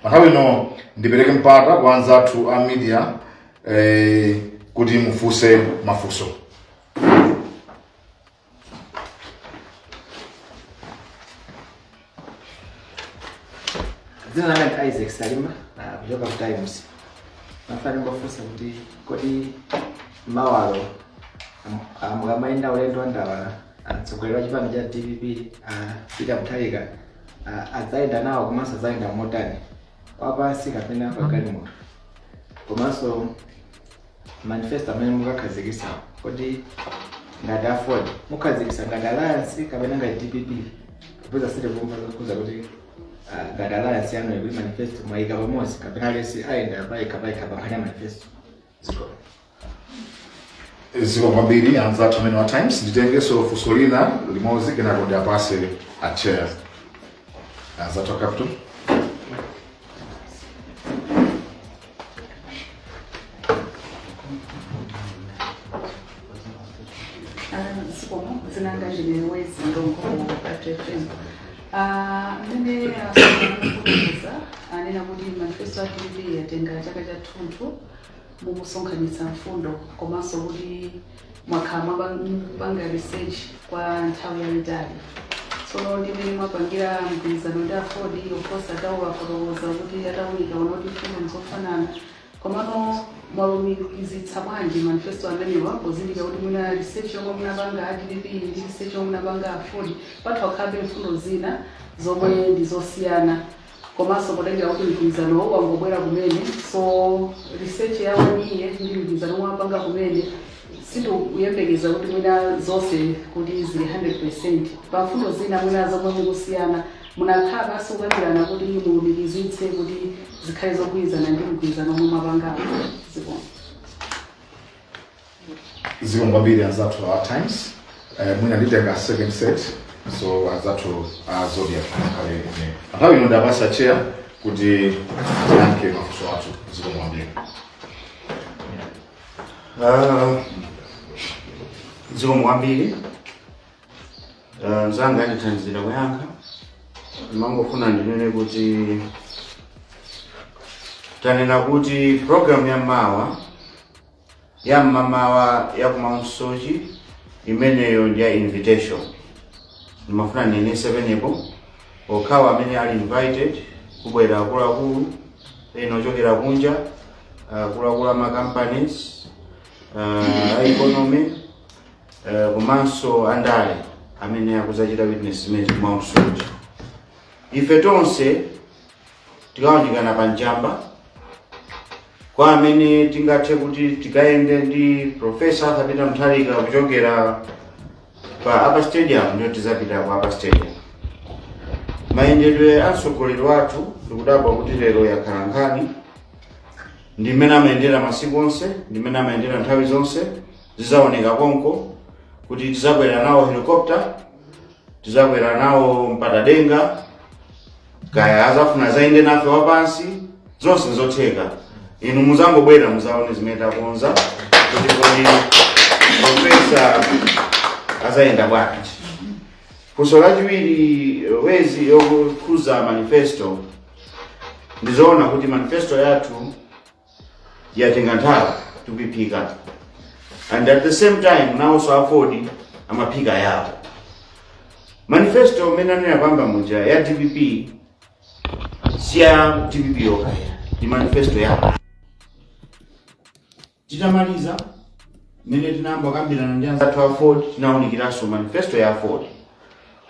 pa nthawi ino ndipereke mpata kwa anzathu a media eh, kuti mufunse mafunso dzina langa ndi isaac salima ah, kuchoka ku times ndimafuna ndifunse kuti kodi mawalo mukamayenda ulendo wa ndawala mtsogoleri wa chipani cha dpp ah, peter mutharika Ah, adzayenda nawo komanso adzayenda motani wapansi kapena pagalimoto komanso manifesto amene mukakhazikitsa kodi ngati aford mukakhazikitsa ngati alliance kapena ngati dpp popeza sitikumva zokhuza kuti ah, ngati alliance yanuyi kuti manifesto mwayika pamodzi kapena aliyense ayenda payekha payekha pankhani ya manifesto zikomo kwambiri anzathu amenewa a times nditengeso funso lina limodzi kenako ndiwapatse a chair anzathu a capital zikomo dzina langa ndine wezi nyirongo capital fm Ah, mmene akufotokoza anena kuti manifesto ya dpp yatenga chaka chathunthu mukusonkhanitsa mfundo komanso kuti mwakhala mwapa- mukupanga research kwa nthawi yayitali tsono ndi mmene mwapangira mgwirizano ndi aford of course atawafotokoza kuti atawunika anaona kuti mfundo nzofanana Komano mwalumikizitsa bwanji manifesto amenewa pozindikira kuti mwina research yomwe munapanga a dpp ndi research yomwe munapanga aford patha kukhalabe mfundo zina zomwe ndi zosiyana komanso potengera kuti mgwirizanowo wangobwera kumene so research ya one year ndi mgwirizano omwe apanga kumene sindikuyembekeza kuti mwina zonse kuti zili 100 pa mfundo zina mwina zomwe mukusiyana Munakhala pansi kukambirana kuti mulumikizitse kuti zikhale zogwirizana ndi mgwirizano omwe mwapangawo. Zikomo. zikomo kwambiri anzathu a times eh, mwina nditenge second set so anzathu a zodiac akhale nayo nthawi ino ndiwapatse a chair kuti ayankhe mafunso athu zikomo kwambiri Ah, zikomo kwambiri Eh, mzanga andithandizira kuyankha ndimangofuna ndinene kuti tanena kuti programu ya mawa ya mmamawa ya ku Mount Soche imeneyo ndi ya invitation ndimafuna ndinenetse pamenepo okhawo amene ali invited kubwera akuluakulu ena ochokera kunja akuluakulu a ma companies uh, a economy eh, komanso andale amene akudzachita witness zimenezi mwa msochi ife tonse tikawunjikana pa njamba kwa amene tingathe kuti tikayende ndi profesa arthur peter mutharika kuchokera pa upper stadium ndiyo tizapita ku upper stadium mayendedwe a mtsogoleri wathu ndikudabwa kuti lero yakhala nkhani ndi mmene amayendera masiku onse ndi mmene amayendera nthawi zonse zidzaoneka konko kuti tizakwera nawo helicopter tizakwera nawo mpandadenga kaya azafuna azayende nafe wapansi zonse nzotheka inu muzangobwera muzaone zimene takonza kuti kodi profesa azayenda bwanji funso lachiwiri wezi yokhuza manifesto ndizoona kuti manifesto yathu yatenga nthawi tikuiphika and at the same time nawonso a aford amaphika yawo manifesto imene anena poyamba muja ya dpp si ya dpp yokha ndi manifesto yawo titamaliza mmene tinayamba kukambirana ndi anzathu a aford tinawunikiranso manifesto ya aford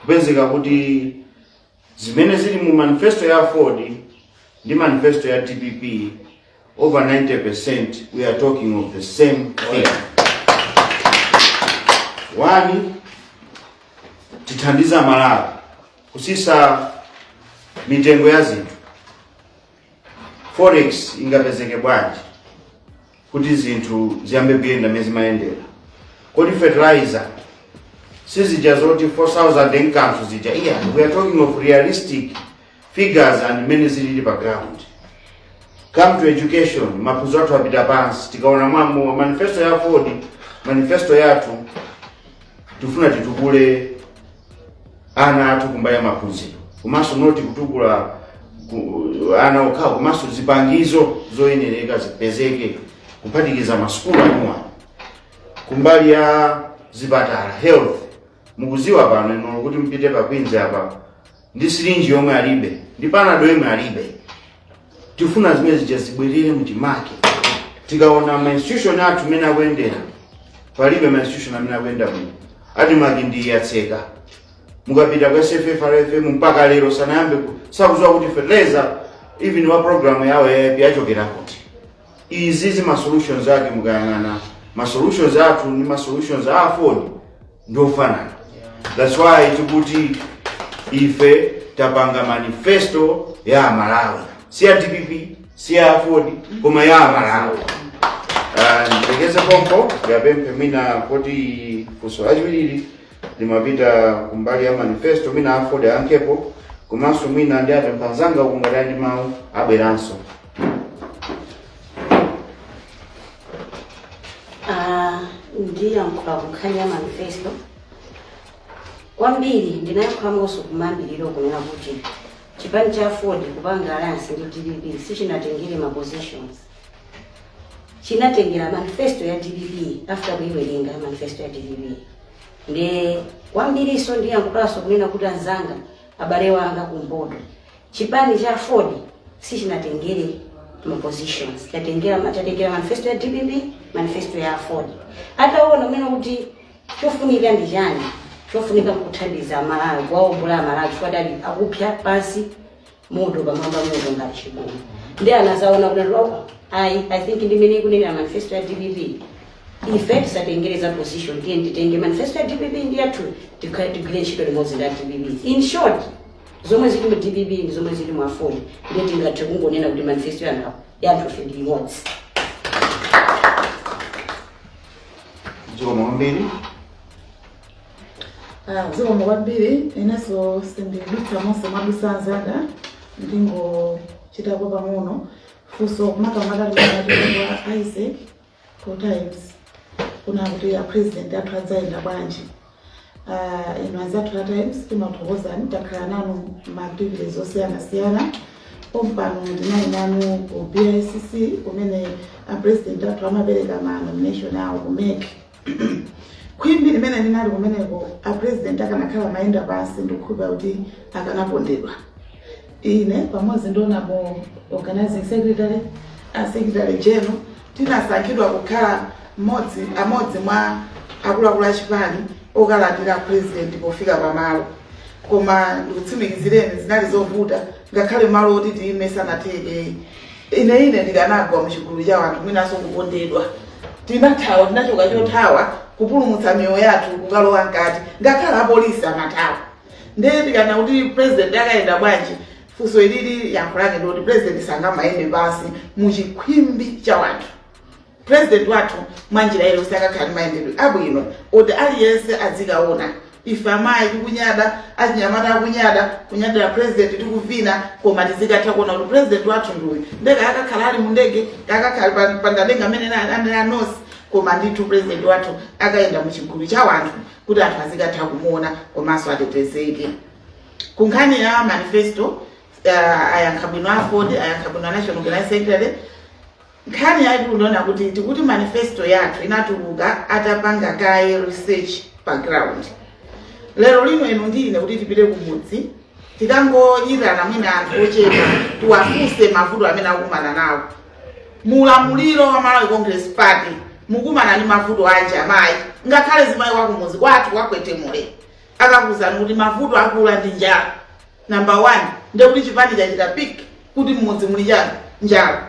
kupezeka kuti Zimene zili mu manifesto ya aford ndi manifesto ya dpp over 90% we are talking of the same thing. One, tithandiza aMalawi kusisa mitengo ya zinthu. Forex ingapezeke bwanji? kuti zinthu ziyambe kuyenda mmene zimayendera kodi fertilizer sizija zoti 4000 n'kanthu zija iyayi we are talking of realistic figures and mmene zilili pa ground come to education maphunziro athu apita pansi tikaona mwa both manifesto ya aford manifesto yathu tifuna titukule ana athu kumbali ya maphunziro komanso not kutukula ku- ana okhawo komanso zipangizo zoyenereka zipezeke kuphatikiza masukulu anuwa kumbali ya zipatala health mukuziwa pano ino kuti mupite pa queens apa ndi syringe yomwe alibe ndi panado yomwe alibe tifuna zimene zija zibwerere mchimake tikaona ma institution athu mmene akuyendera palibe ma institution amene akuyenda bwino admarc ndi yotseka mukapita ku sffrfm mpaka lero sanayambe ku- sakudziwa kuti fertilizer even wa program yawo ya aip achokera kuti izi ma solutions ake mukayang'ana ma solutions athu ndi ma solutions a aford ndiofanana that's why tikuti ife tapanga manifesto ya amalawi si ya dpp si ya aford koma ya amalawi ndithere pompo ndiapemphe mwina kuti funso lachiwirili limapita kumbali ya manifesto mwina aford ayankhepo komanso mwina ndiapemphe anzanga uku ngati ali ndi mawu abweranso Ah, ndiyankhula ku nkhani ya manifesto kwambiri ndinayankhulanso kumayambiriro kunena kuti chipani cha aford kupanga alliance ndi dpp sichinatengere ma positions chinatengera manifesto ya dpp after kuiwerenga manifesto ya dpp ndiye kwambiriso ndiyankhulanso kunena kuti anzanga abale wanga kumpoto chipani cha aford sichinatengere ma positions chatengera ma- chatengera manifesto ya dpp manifesto ya aford ataona kunena kuti chofunika ndi chani chofunika nkuthandiza amalawi kuwaombola amalawi chifukwa adali akupsya pansi moto pamwamba moto ngati chigumu ndiye anazaona kuti ayi i think ndi imene ikunenera manifesto ya dpp ife tisatengere za position tiye titenge manifesto ya dpp ndi yathu tigwire ntchito limodzi ndi ya dpp in short zomwe zili mu dpp ndi zomwe zili mu aford ndiye tingathe kungonena kuti manifesto ya anthu awo- yathu ife ndi imodzi zikomo kwambiri Ah, zikomo kwambiri inenso sindidutsa monse madutsa anzanga ndingochitapo pang'ono funso makamaka la kwa isaac wa times kunena kuti a president athu adzayenda bwanji Ah, inu anzathu a times timakuthokozani takhala nanu maaktivities osiyanasiyana pompano ndinali nanu ku bicc kumene a president athu amapereka ma nomination awo ku mec khwimbi limene linali kumeneko a president akanakhala amayenda pansi ndikukhulupira kuti akanapondedwa ine pamodzi ndi a namalomba organizing secretary a secretary general tinasankhidwa kukhala amodzi mwa akuluakulu a chipani okalandira a president pofika pamalo koma ndikutsimikizireni zinali zovuta ngakhale malo oti tiyime sanatheke Ine, ine ndikanagwa mu chigulu cha wanthu, mwinanso kupondedwa. Tinathawa, tinachoka chothawa kupulumutsa miyoyo yathu kukalowa mkati, ngakhale apolisi amathawa. Ndiye tikanena kuti president akayenda bwanji, funso ilili yankho lake ndikuti president sangamayende pansi mu chikhwimbi cha wanthu. President wathu mwanjira iliyonse akakhala ndi mayendedwe abwino oti aliyense adzikaona ife amayi tikunyada achinyamata akunyada kunyadira president tikuvina koma tizikatha kuona kuti president wathu ndiuyu ndiye akakhala ali mu ndege akakhala pa- pamlengalenga amene na- amene anosi koma ndithu president wathu akayenda mu chigulu cha wanthu kuti anthu azikatha kumuona komanso atetezeke ku nkhani ya manifesto uh, ayankha bwino aford ayankha bwino national organizing secretary Nkhani yaikulu ndi yonena kuti tikuti manifesto yathu inatuluka atapanga kaye research pa ground. Lero lino inu ndi ine kuti tipite kumudzi tikangoyitana mwina anthu ochepa tiwafunse mavuto amene akumana nawo. Mu ulamuliro wa Malawi Congress Party mukumana ndi mavuto anji amayi ngakhale zimayi wakumudzi kwathu kwakwetemule akakuwuzani kuti mavuto akula ndi njala. number 1 ndiye kuti chipani chachita pick kuti mmudzi muli chani njala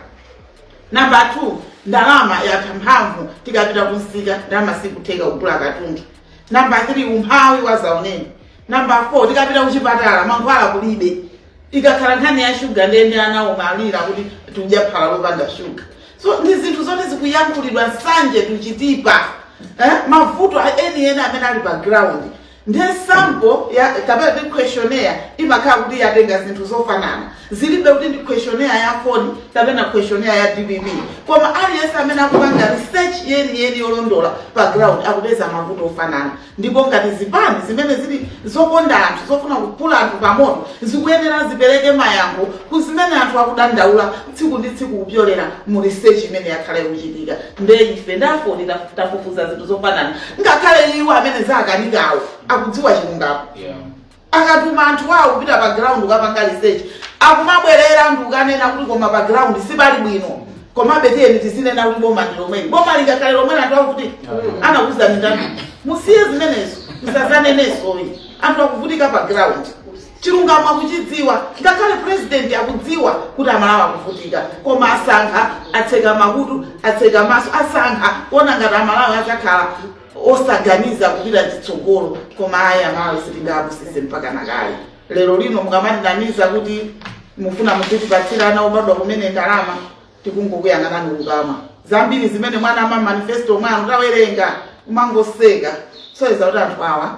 number 2 ndalama yatha mphamvu tikapita kumsika ndalama sikutheka kugula katundu number 3 umphawi wazaoneni number 4 tikapita kuchipatala mankhwala kulibe ikakhala nkhani ya shuga nde ndi anawo akulira kuti tikudya phala lopanda shuga so ndi zinthu zoti zikuyankhulidwa nsanje tuchitipa eh? mavuto enieni amene ali pa ground Ndiye sample ya kapena kuti questionnaire imakhala kuti yatenga zinthu zofanana, zilibe kuti ndi questionnaire ya AFORD kapena questionnaire ya dpp, koma aliyense amene akupanga research yeniyeni yolondola pa ground akupeza mavuto ofanana. Ndipo ngati zipani zimene zili zokonda anthu, zofuna kuphula anthu pamoto, zikuyenera zipereke mayankho ku zimene anthu akudandaula. tsiku ndi tsiku kupyolera mu research imene yakhala ikuchitika nde ife nda AFORD taf- tafufuza zinthu zofanana ngakhale iwo amene zakanikawo akudziwa chilungamo Yeah. akatuma anthu awo kupita pa ground kukapanga research akumabwerera ndi kukanena kuti koma pa ground sipali bwino komabe tiyeni tizinena kuti boma ndi lomweli boma lingakhale lomweli anthu akuti anakuuzani ndani musiye zimenezo musazanenenso anthu akuvutika pa ground Chilungamo akuchidziwa ngakhale president akudziwa kuti amalawi akuvutika koma asankha atseka makutu atseka maso asankha kuona ngati amalawi adzakhala osaganiza kupita chitsogolo koma ayi amalawi sitingapusitsidwe mpaka nakale lero lino mukamatinamiza kuti mufuna muzitipatsira ana obadwa kumene ndalama tikungokuyang'anani kukamwa zambiri zimene mwanena mma manifesto mwanu tawerenga umangoseka soyeza kuti anthu awa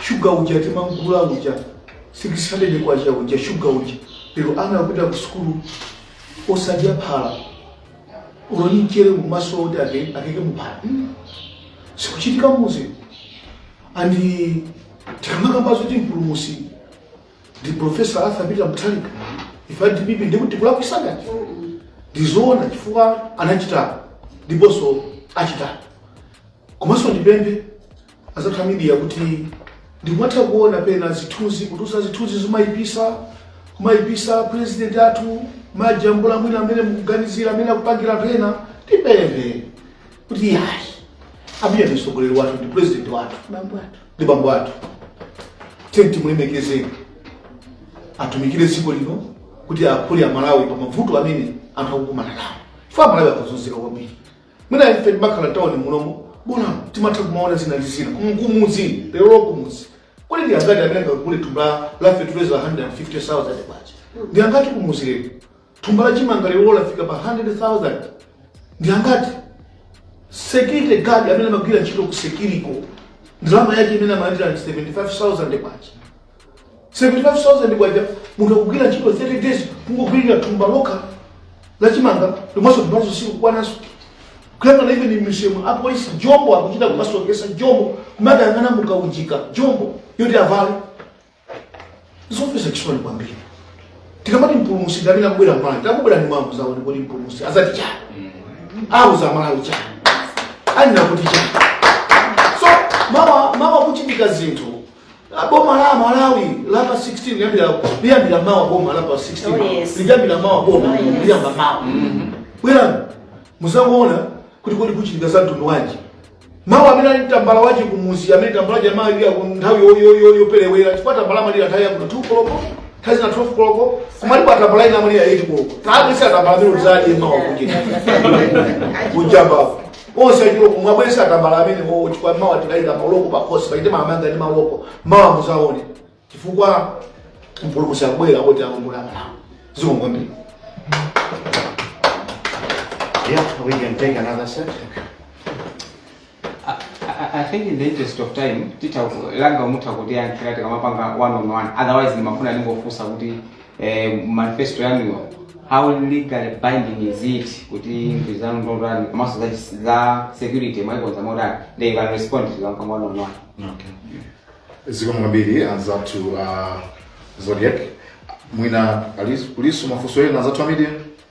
shuga uja timamgula uja 600 kwacha uja shuga uja lero ana akupita ku sukulu osadya phala olo ni mchere mumaso oti ake- akeke muphala Mm. sikuchitika muzi andi tikamakamba zoti mpulumusi ndi profesa arthur peter mutharika ife a DPP ndikuti kulakuisangati ndizoona chifukwa anachita ndiponso achita komanso ndipemphe anzathu a media kuti ndikumatha kuona pena zithunzi kutulutsa zithunzi zomayipitsa kumayipitsa president athu majambula mwina amene mukuganizira amene akupangira pena tipemphe kuti yayi a Peter ndi mtsogoleri wathu ndi president wathu bambo athu ndi bambo athu tiyeni timulemekezeni atumikire dziko lino kuti aphule amalawi pa mavuto amene anthu akukumana nawo chifukwa amalawi akuzunzika kwambiri mwina ife timakhala tawoni munomo bola timatha kumaona zina ndi zina Kumu- kumudzi lerolo kumudzi kodi ndi angati amene angagule thumba la feteleza 150,000 kwacha ndi angati kumudzi lero thumba la chimanga lero lafika pa 100,000 ndi angati security guard amene amagwira ntchito ku Securicor ndalama yake imene amalandira 75000 kwacha 75,000 kwacha munthu akugwira ntchito 30 days kungogwirira thumba lokha la chimanga lomwenso ndalamazo sikukwananso kuyang'ana even m'misewumo apolisi jombo akuchita kumasoketsa jombo kumakayang'ana mukaunjika jombo yoti avale zomvesa chisoni kwambiri tikamati mpulumusi ndamene akubwera mmalawi akubwera ndi mwambo zawo ndikuti mpulumusi azati chani auza malawi chani anena kuti chani so mawa mawa kuchitika zinthu Ah, boma la malawi lapa 16 liyambira liyambira mawa boma lapa 16 Oh, yes. liyambira mawa boma Oh, yes. liyamba mawa bwerani muzangoona kuti kodi kuchitika za mtundu wanji mawa amene ali tambala wache kumuzi amene tambala wache amalira nthawi yo- yo- yo- yoperewera chifukwa tambala amalira nthawi ya kuma 2 koloko nthawi zina 12 koloko koma alipo atambala ina amalira 8 koloko tabweretsa atambala amene uzaadye mawa kuchita kujambapo onse achiloko mwabwesa atambala amenewowo chifukwa mawa tikayika maloko pakhosi pachite maamanga ndi maloko mawa muzaone chifukwa mpulumusi akubwera oti aongola malawi zikomo kwambiri Yeah, we can take another set. I, I think in the interest of time tita langa mutha kutiyankhira tikamapanga one on one otherwise ndimafuna ndingofunsa kuti eh, manifesto yanuyo how legally binding is it kuti nthu zanu ndotani komanso za, za security mwaikonza motani they can respond to them one on one zikomo kwambiri anzathu uh, zodiac mwina alis- kulinso mafunso ena anzathu a media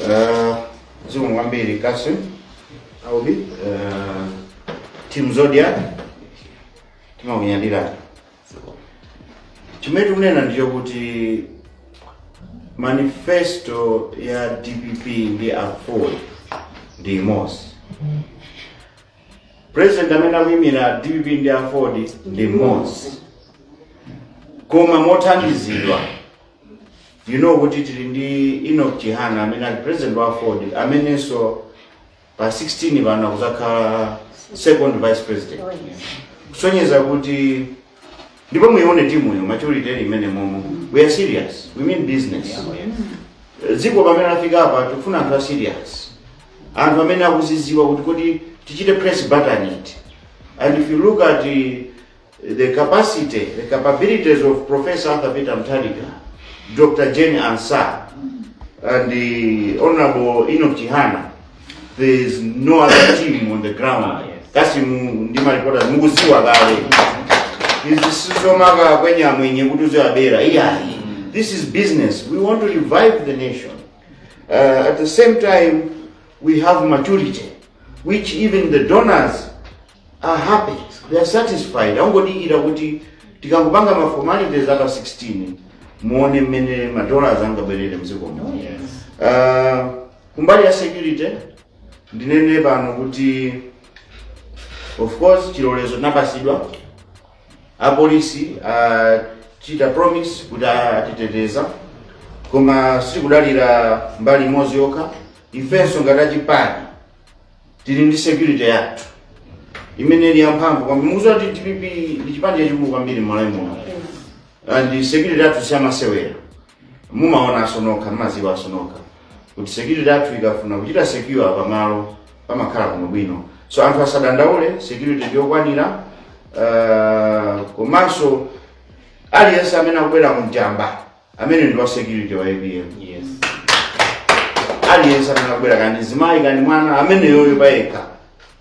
Uh, zikomo kwambiri Kasim. Aubi. Uh, Team Zodiac. Timakunyadira. Chimene tikunena ndicho kuti manifesto ya DPP ndi Aford ndi imodzi. President amene akuyimira DPP ndi Aford ndi mmodzi. Koma mothandizidwa you know kuti tili ndi Enoch Chihana amene ali president wa Aford amenenso pa 16 pano akuzakhala second vice president kusonyeza kuti ndipo muione timu yo maturity ili imene momo we are serious we mean business dziko pamene lafika apa tikufuna anthu a serious anthu amene akuziziwa kuti kodi tichite press button it and if you look at the The capacity, the capabilities of Professor Arthur Peter Mutharika, Dr. Jane Ansah, and the Honorable Enoch Chihana, there is no other team on the ground. Kasi mu- ndi maripota mukuziwa kale. Izi sizomaka kwenye amwenye kuti uziwabera. Iyayi. This is business. We want to revive the nation. Uh, at the same time, we have maturity, which even the donors are happy they are satisfied angodikira kuti tikangopanga ma formalities apa 16 muone mmene ma dollars angabwerere mdziko muno uh, kumbali ya security ndinene pano kuti of course chilolezo tinapasidwa apolisi achita promise kuti atiteteza koma sitikudalira mbali imodzi yokha ifenso ngati achipani tili ndi security yathu imene ili yamphamvu kwambiri mukuziwa kuti dpp ndi chipani chachikulu kwambiri mmalawi muno and security yathu siyamasewera mumaonanso nokha mumaziwanso nokha kuti security yathu ikafuna kuchita secure pamalo pamakhala kuli bwino so anthu asadandaule security ndiyokwanira uh, komanso aliyense amene akubwera ku njamba ameneyo ndi wa security wa apm yes aliyense amene akubwera kaya ndi mzimayi kaya ndi mwana ameneyoyo payekha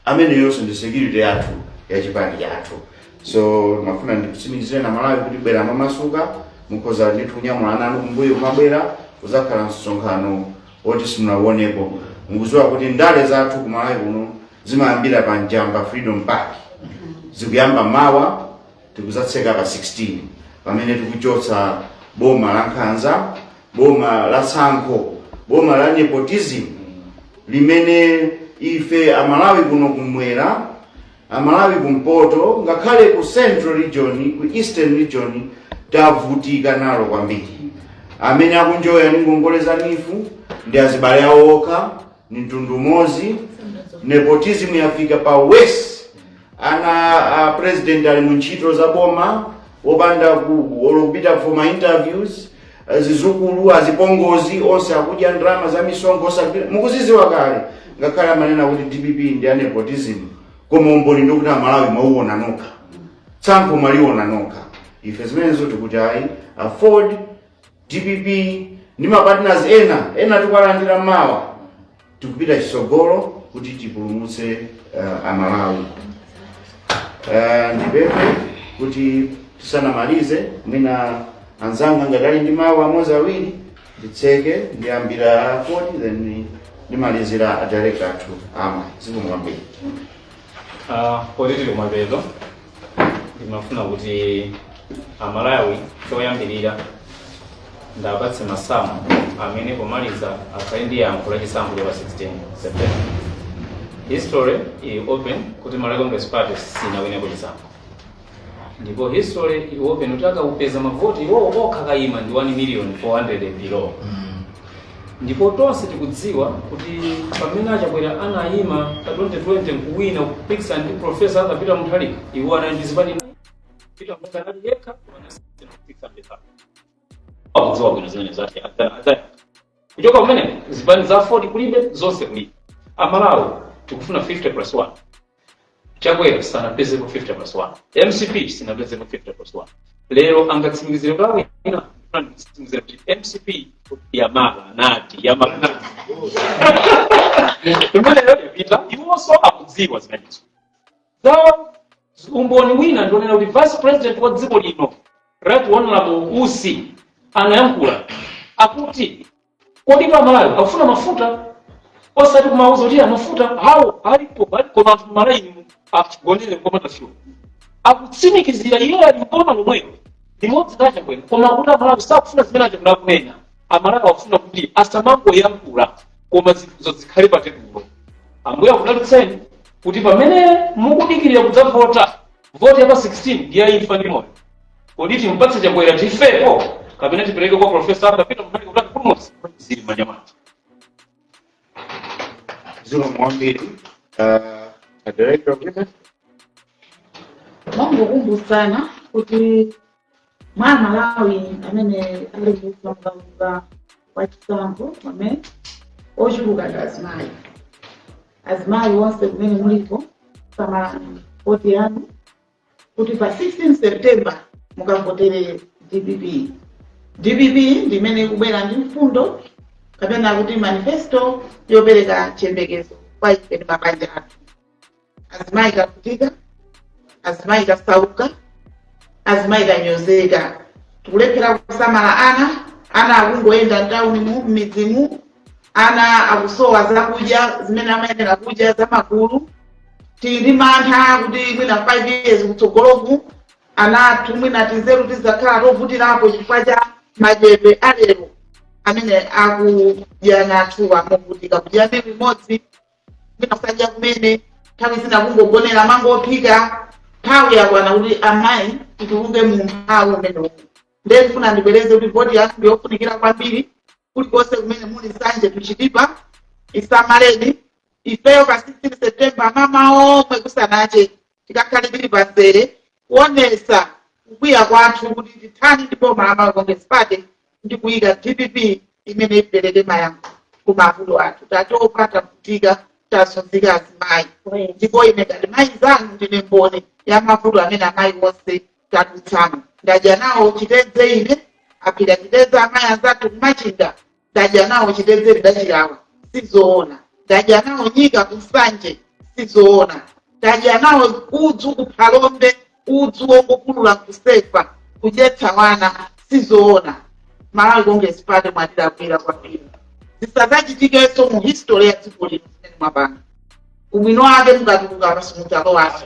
ameneyonso ndi security yathu ya chipani chathu so ndimafuna ndikusimikizireni amalawi kuti bwerani momasuka mukhoza ndithu kunyamula ana anu kumbuyo kumabwera kuzakhala msonkhano woti simunauonepo mukuziwa kuti ndale zathu kumalawi kuno zimayambira pa njamba freedom park zikuyamba mawa tikuzatseka pa 16 pamene tikuchotsa boma la nkhanza boma la tsankho boma la nepotism limene ife amalawi kuno kumwera amalawi kumpoto ngakhale ku central region ku eastern region tavutika nalo kwambiri amene akunjoya ndi ngongole za neef ndi azibale awo okha ni mtundu umodzi nepotism yafika pa worst ana a president ali mu ntchito za boma wopanda ku- olo kupita for ma interviews eh, zizukulu azipongozi onse akudya ndalama za misonkho osapita mukuziziwa kale ngakhale amanena kuti dpp ndi a nepotism koma umboni ndikuti amalawi mwauona nokha tsankho mwaliona nokha ife zimenezo tikuti ayi aford Dpp ndi mapartners ena ena tikuwalandira mawa tikupita chisogolo kuti tipulumutse uh, amalawi uh, ndipemphe kuti tisanamalize mwina anzanga ngati ali ndi mawu amodzi awiri nditseke ndiyambira a Fodi then ndimalizira adirect athu a women zikomo kwambiri Poti tili kumapeto ndimafuna kuti amalawi choyambirira ndapatse masamu amene pomaliza akhale ndi yankho la chisankho cha pa 16 september history ili open kuti malawi congress party sinawineko chisankho ndipo history ili open kuti akamapeza mavoti iwowo okha akayima ndi 1 million 400 below ndipo tonse tikudziwa kuti pamene achakwera anayima pa 2020 nkuwina kupikisana ndi profesa Arthur Peter Mutharika iwo anali ndi zipani Peter Mutharika anali yekha anasiyana kupikisana ndi Mutharika. akudziwa bwino zimene zachitika adzayamba kuchoka kumene zipani za 40 kulibe zonse kulibe amalawi tikufuna 50 plus 1 chakwera sanapezepo 50 plus 1 mcp sinapezepo 50 plus 1 lero angatsimikizire kwa wina angatsimikizire kuti mcp yamala nadi yamala nadi imeneyo yapita iwonso akudziwa zimenezo zawo umboni wina ndi onena kuti vice president wa dziko lino right honorable usi anayankhula akuti kodi amalawi akufuna mafuta osati kumawauza kuti mafutawo alipo alipo anthu mmalaini akugonera kumathira fuel akutsimikizira iye ali m'boma lomwelo limodzi ndi achakwera koma akuti amalawi sakufuna zimene achakwera akunena amalawi akufuna kuti asamangoyankhula koma zinthuzo zikhale pa tebulo ambuye akudalitseni kuti pamene mukudikirira kudzavota voti ya pa 16 ndi ya imfa ndi moyo kodi timpatse chakwera tifepo kapena tipereke kwa profesa kapita mutali kuti atipulumutse zili mmanja mwathu zikomo kwambiri uh, director of business ndingokumbutsana kuti mwa amalawi amene ali mkaundula wa chisankho amene ochuluka ndi azimayi azimayi onse kumene muliko samalani voti yanu kuti pa 16 september mukavotere dpp dpp ndi imene ikubwera ndi mfundo kapena kuti manifesto yopereka chiyembekezo kwa ife ndi mabanja athu azimayi tavutika azimayi tasauka azimayi tanyozeka tikulephera kusamala ana ana akungoyenda mtawuni mu m'midzimu ana akusowa zakudya zimene amayenera kudya zamagulu tili ndi mantha kuti mwina 5 years kutsogoloku ana athu mwina tizeru tizakhala tovutirapo chifukwa cha madyedwe alero amene akudya ana athuwa movutika kudya meal imodzi mwina kusadya kumene nthawi zina kungogonera mango ophika nthawi yakwana kuti amayi tituluke mu umphawi umene uwu ndiye ndifuna ndibwereze kuti voti yathu ndi yofunikira kwambiri kulikonse kumene muli nsanje to chitipa isamaleni ifeyo pa 16 september mmamawa omwe kusanache tikakhale tili pa nzere kuonesa kukwiya kwathu kuti tithani ndi boma la malawi congress party ndi kuyika dpp imene ipereke mayankho ku mavuto athu tatopa tavutika tazunzika azimayi ndipo ine ngati mayi nzanu ndine mboni ya mavuto amene amayi onse tadutsamo ndadya nawo chitedze ine aphika chitedze amayi anzathu kumachinga ndadya nawo chitedze ndachilawa sizoona ndadya nawo nyika kunsanje sizoona ndadya nawo udzu kuphalombe udzu wongopulula kusefa kudyetsa wana sizoona malawi congress party mwatilakwira kwambiri zisadzachitikenso mu history ya dziko lino zimene mwapanga ubwino wake mukatuluka apa simudzalowaso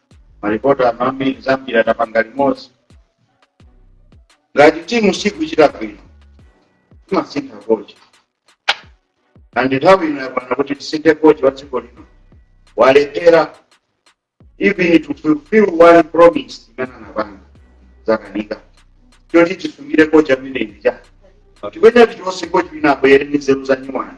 malipota amene za mpira tapanga limodzi ngati timu sikuchita bwino timasintha kochi and nthawi ino yakwana kuti tisinthe kochi wa dziko lino walephera even to fulfill one promise imene anapanga zakanika choti tisungire kochi amene uja tikuyenera tichotse kochi wina abwere ndi nzeru za nyuwani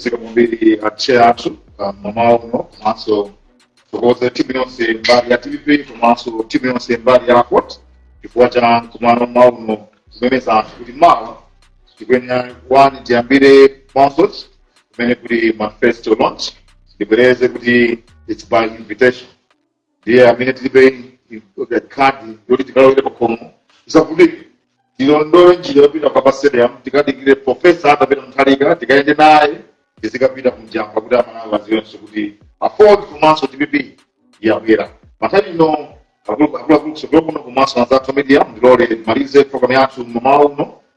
Zikomo kwambiri atcheya athu mamawa uno komanso kuthokoza timu yonse mbali ya dpp komanso timu yonse mbali ya aford chifukwa cha mkumano mmawa uno kumemeza anthu kuti mawa tikuyenera wani tiyambire mount soche kumene kuli manifesto launch ndibwereze kuti its by invitation ndiye amene tilibe khadi yoti tikalowere pakhomo tisavutike tilondole njira yopita pa stadium tikadikire profesa arthur peter mutharika tikayende naye tizikapita kunjamba kuti amalawi aziwenso kuti aford komanso dpp yabwera panthawi ino akuluakulu kusogolo kuno komanso anzathu a media ndilole timalize programu yathu mamawa uno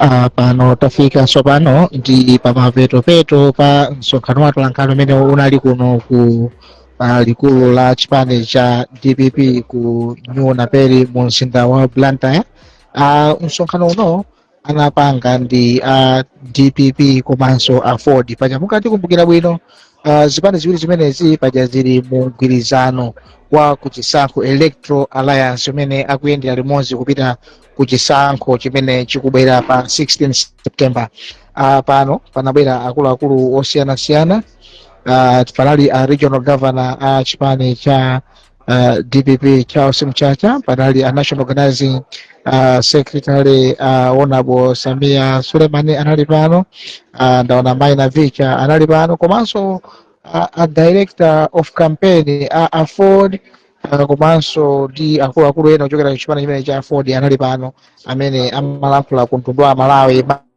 Ah, pano tafika tsopano ndi pamapetopeto pa msonkhano wa atolankhani umene unali kuno ku ah, likulu la chipani cha dpp ku new naperi mu mzinda wa blantyre Ah, msonkhano uno anapanga ndi a dpp komanso a aford paja mukatikumbukira bwino uh, zipani ziwiri zimenezi paja zili mu mgwirizano wa kuchisankho electoral alliance umene akuyendera limodzi kupita ku chisankho chimene chikubwera pa 16 september uh, pano panabwera akuluakulu osiyanasiyana uh, panali a regional governor a chipani cha uh, dpp charles mchacha panali a national organizing uh, secretary uh, honorable sameer suleman anali pano uh, ndaona mai navicha anali pano komanso a, a director of campaign a aford uh, komanso ndi akuluakulu ena ochokera ku chipani chimene cha aford anali pano amene amalankhula ku mtundu wa amalawi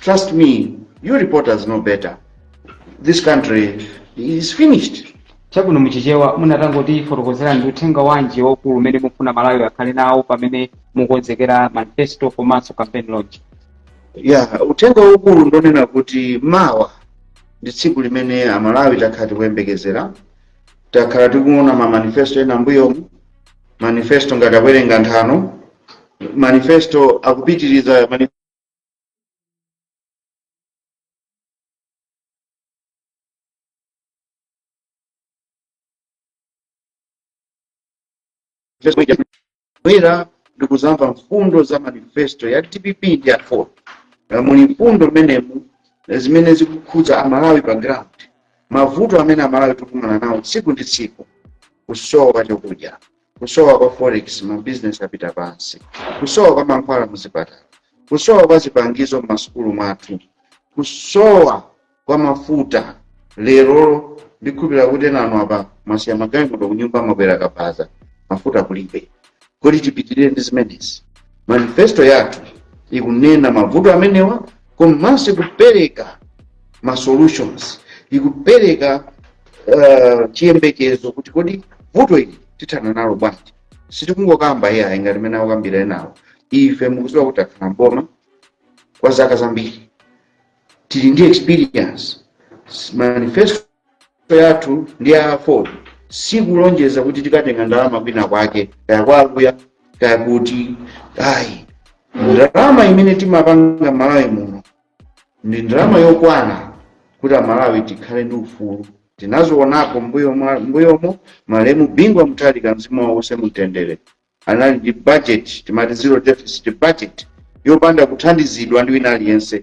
Trust me, you reporters know better. This country is finished. chabwino muchichewa mutangotifotokozera ndi uthenga wanji waukulu umene mufuna amalawi akhale nawo pamene mukonzekera manifesto komanso campaign launch ya uthenga waukulu ndonena kuti mawa ndi tsiku limene amalawi takhala tikuyembekezera takhala tikuona ma manifesto ena mbuyomu manifesto ngati akuwerenga nthano manifesto akupitiriza manifesto bwera ndikuzamva mfundo za manifesto ya dpp ndi a aford Eh, muli mfundo mmenemu eh, zimene zikukhudza amalawi pa ground mavuto amene amalawi tikukumana nawo tsiku ndi tsiku kusowa kwa chakudya kusowa kwa forex ma business apita pansi kusowa kwa mankhwala muzipatala kusowa kwa zipangizo m'masukulu mwathu kusowa kwa mafuta lero ndikhulupirira kuti nanu apa mwasiya magalimoto kunyumba mwakwera kabaza mafuta kulibe kodi tipitirire ndi zimenezi manifesto yathu ikunena mavuto amenewa komanso ikupereka ma solutions ikupereka eh, chiyembekezo kuti kodi vuto ili tithana nalo bwanji sitikungokamba ife ayi ngati mmene akukambira enawo ife mukuziwa kuti takhala mboma kwa zaka zambiri tili ndi experience manifesto yathu ndi a aford sikulonjeza kuti tikatenga ndalama kwina kwake kaya kwakuya kaya kuti ayi ndalama imene timapanga malawi muno ndi ndalama yokwana kuti amalawi tikhale ndi ufulu tinazionako mbuyo mwa- mbuyomo malemu bingu wa mutharika mzimu wawo uuse mumtendere anali ndi budget timati zero deficit budget yopanda kuthandizidwa ndi wina aliyense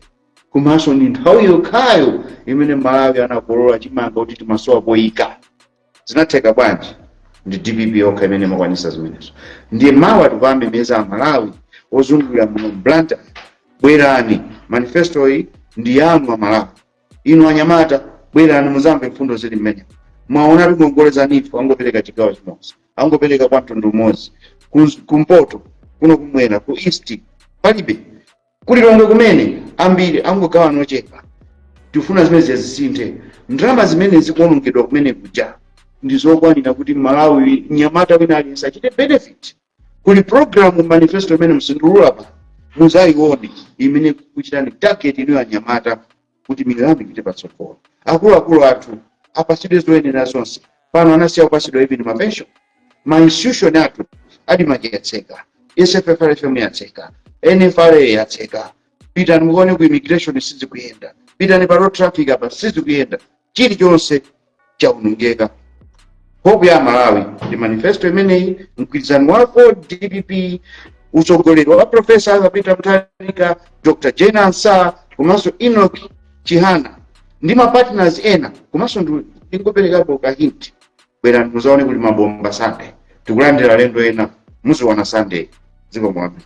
komanso ndi nthawi yokhayo imene malawi anakolola chimanga kuti timasowa poyika zinatheka bwanji ndi dpp yokha imene imakwanisa zimenezo ndiye mawa tikuwamemeza amalawi ozungulira muno mu blantyre bwerani manifesto iyi ndi yanu amalawi inu anyamata bwerani muzamve mfundo zili mmene mwaona tingongole za neef angopereka chigawo chimodzi angopereka kwa mtundu umodzi kumpoto kuno kumwera ku east palibe ku lilongwe kumene ambiri angogawana ochepa tifuna zimenezi zisinthe ndalama zimene zikuonongedwa kumene kuja ndi zokwanira kuti mmalawi mnyamata wina aliyense achite benefit kuli programu mu manifesto imene sindiulula apa muzayione imene ikuchitani target inuyo anyamata kuti miyoyo yanu ipite patsogolo akuluakulu athu apasidwe zoyenera zonse pano anasiya kupasidwa even mapensho ma institution athu admarc yatseka sffrfm yatseka nfra yatseka pitani mukaone ku immigration sizikuyenda pitani pa road traffic apa sizikuyenda chilichonse chaonongeka hope ya malawi ndi manifesto imeneyi mgwirizano wa aford dpp utsogoleri wa profesa arthur peter mutharika dr jane ansah komanso enoch chihana ndi mapartners ena komanso ndi- ndingoperekapo ka hint bwerani muzaone kuli mabomba sunday tikulandira alendo ena muziona sunday zikomo kwambiri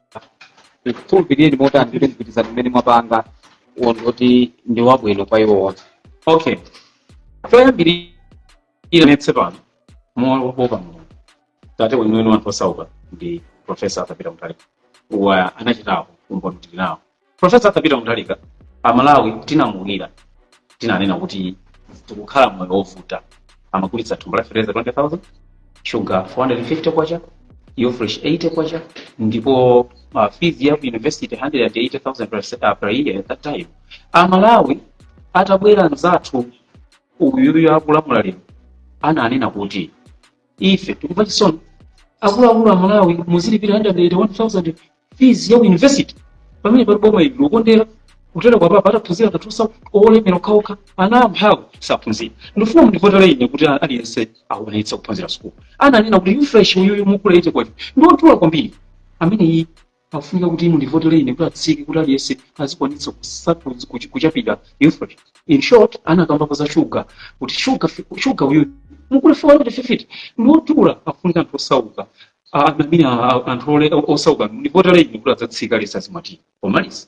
tikukhulupirire motani kuti mgwirizano umene mwapanga uwo ndoti ndi wabwino kwa iwo onse okay choyambirira ndinenetse pano mowopa mulungu tate weniweni wa anthu osauka ndi profesa arthur peter mutharika awa anachitapo umboni tili nawo Profesa Arthur Peter Mutharika, Amalawi tinamulirira tinanena kuti tikukhala moyo wovuta, amagulitsa thumba la fertilizer 20,000 sugar 450 kwacha ufresh 80 kwacha ndipo uh, fees ya ku university 180,000 per year at that time. Amalawi atabwera mzathu uyuyu akulamula lero ananena kuti ife tikumva chisoni akuluakulu amalawi muzilipira 180000 fees ya ku university pamenepa ndi boma ili lokondera kutereku apapa ataphunzire ndi anthu osa- olemera okhaokha ana amphawi saphunzira ndifuna mundivotere ine kuti aliyense akwanitse kuphunzira sukulu ananena kuti ufresh uyuyu mukugula 80 kwacha ndiodula kwambiri ameneyi pakufunika kuti mundivotele ine kuti atsike kuti aliyense azikwanitsa kuchapira ufresh in short anakambapo za shuga kuti shuga uyu mukugula 450 ndiwodula pakufunika anthu osauka i mean anthu osauka mundivotele ine kuti adzatsike aliyense azimwa tiyi pomaliza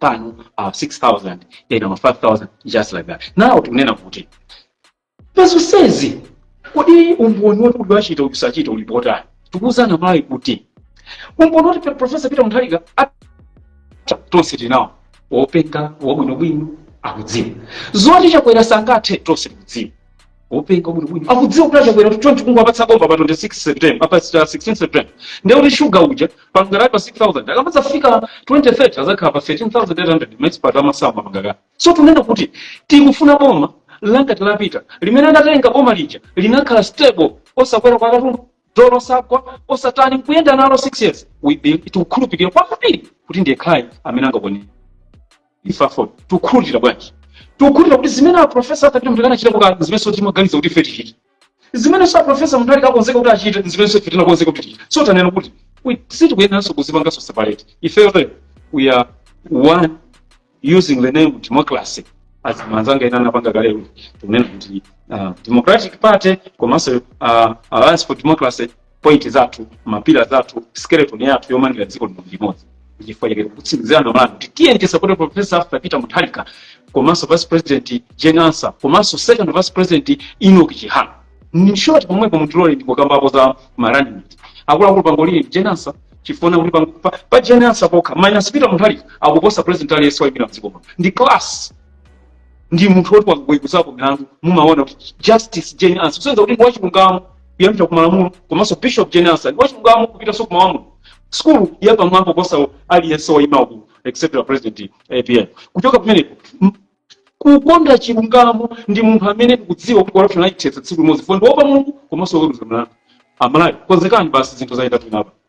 pano uh, 6000 then ama 5000 just like that now tikunena kuti pazonsezi kodi umboni woti kuti wachita uyu sachita uli pati tikuwuza Amalawi kuti umboni woti profesa Peter Mutharika atha tonse tinawona wopenga wabwinobwino akudziwa zoti Chakwera sangathe tonse tikudziwa wopenga wabwinobwino akudziwa kuti a Chakwera kuti chonchi kungowapatsa boma pa 26 september a pa 16 september ndiye kuti shuga uja panali pa 6000 ikamadzafika 2030 adzakhala pa 13800 maexpert amasamba mangaka so tunena kuti tikufuna boma la ngati la Peter limene anatenga boma lija linakhala stable osakwera kwa katundu dollar osagwa osatani kuyenda nalo 6 years we believe tikukhulupirira kwambiri kuti ndi yekhayo amene angakwanire ife a AFORD tikukhulupirira bwanji tikukhulupirira kuti zimene a profesa Arthur Peter Mutharika anachita kukhala zimenenso timaganiza kuti ife tichite zimenenso a profesa Mutharika akonzeka kuti achite zimenenso ife tinakonzeka kuti tichite so tikunena kuti we- sitikuyeneranso kudzipanganso separate ifeyo lero we are one using the name democracy as manzanga ena anapanga kalelo tikunena kuti uh, democratic party komanso uh, alliance for democracy point zathu mapila zathu skeleton yathu yomangira dziko lino limodzi ndichifukwa chake kutsimikizira Amalawi kuti tiyeni tisapote professor Arthur Peter Mutharika komanso vice president Jane Ansah komanso second vice president enoch chihana in short pomwepo mutilole ndingokambapo za ma running akuluakulu pang'ono Jane Ansah chifukwa kuti pang- pa, pa Jane Ansah pokha minus peter mutharika akuposa president aliyense waimira mdziko muno ndi class ndi munthu woti waweruzapo milandu mumaona kuti justice Jane Ansah kusonyeza kuti ndi wachilungamo kuyambira ku malamulo komanso bishop Jane Ansah ndi wachilungamo kupitanso ku malamulo sukulu yapamwamba kuposa aliyense waima uku except the president apm kuchoka pamenepo m- kukonda chilungamo ndi munthu amene tikudziwa kuti corruption ayithetsa tsiku limodzi fo ndi woopa Mulungu komanso woweruza mlandu Amalawi konzekani basi zinthu zayenda bwino apa